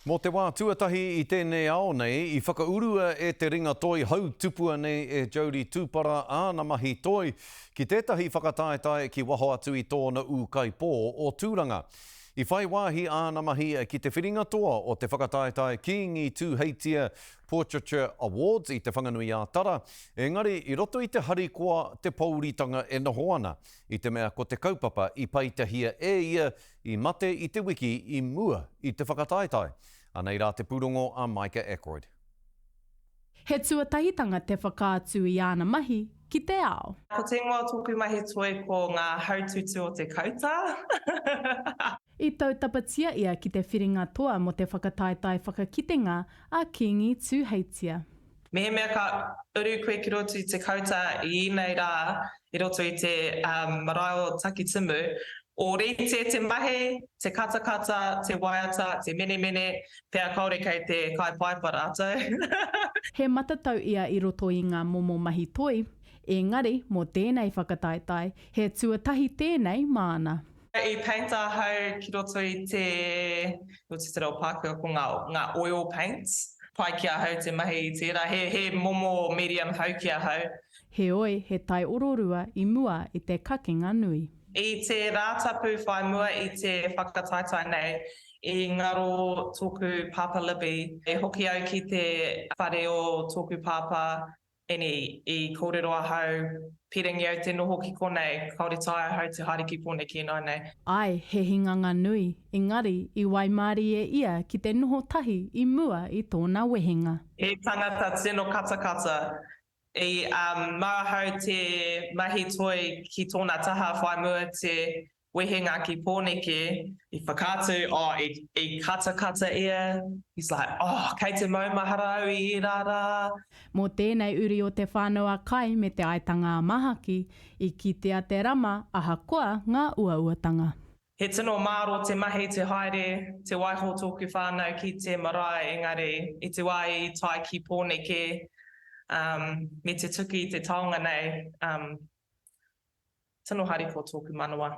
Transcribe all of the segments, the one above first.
Mō te wā tuatahi i tēnei ao nei, i whakaurua e te ringa toi hautupua nei e Jodie Tupara āna mahi toi ki tētahi whakataetae ki waho atu i tōna ūkaipō o Tūranga. I whai wāhi āna mahi ki te whiringa toa o te whakataetae Kīngi Tūheitia Portraiture Awards i Te Whanganui-ā-Tara, engari i roto i te harikoa te pōuritanga e noho ana, i te mea ko te kaupapa i peitahia e ia I mate i te wiki i mua i te whakataetae. Anei rā te pūrongo a Micah Ackroyd. He tuatahitanga te whakaatu i āna mahi ki te ao. Ko te ingoa o tōku mahi toi ko Ngā Hautūtū o Te Kautā. I tautapatia ia ki te whiringa toa mō te whakataetae whakakitenga a Kīngi Tūheitia. Mehemea ka uru koe ki roto i te kauta i ēnei rā i roto i te marae o Takitimu, ōrite te mahi, te katakata, te waiata, te menemene, pea kāore kei te kāepaepa rātou. He matatau ia i roto i ngā momo mahi toi, ēngari, mō tēnei whakataetae, he tuatahi tēnei māna. I paint ahau ki roto i te, ko te tere o Pākehā ko ngā, ngā oil paints. Pai ki ahau te mahi i tērā, he, he momo medium hau ki ahau. Heoi, he taiororua i mua i te kakenga nui. I te Rātapu whai mua i te whakataetae nei, i ngaro tōku Pāpā Libby. I hoki au ki te whare o tōku Pāpā Eni, i kōrero ahau, pīrangi au te noho ki konei, kāore taea ahau te haere ki kōnei ki ināinei. Ae, he hinganga nui, engari, i waimārie ia ki te noho tahi i mua i tōna wehenga. He tangata tino katakata. I mau ahau te mahi toi ki tōna taha whaimua te Wehenga ki Pōneke, i whakaatu, oh, i, i katakata ia, he's like, oh, kei te maumahara au i ērā rā. Mō tēnei uri o Te Whānau-a-Kai me Te Aitanga-a-Mahaki, i kitea te rama ahakoa ngā uauatanga. He tino māro te mahi, te haere, te waiho tōku whānau ki te marae engari i te wā i tae ki Pōneke, um, me te tuki i te taonga nei, um, Tino harikoa tōku manawa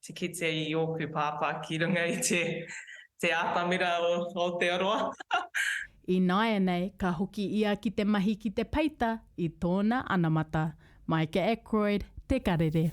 te kite i ōku pāpā ki runga i te atamira o Aotearoa. I nāianei ka hoki ia ki te mahi ki te peita i tōna anamata, Micah Ackroyd, Te Karere.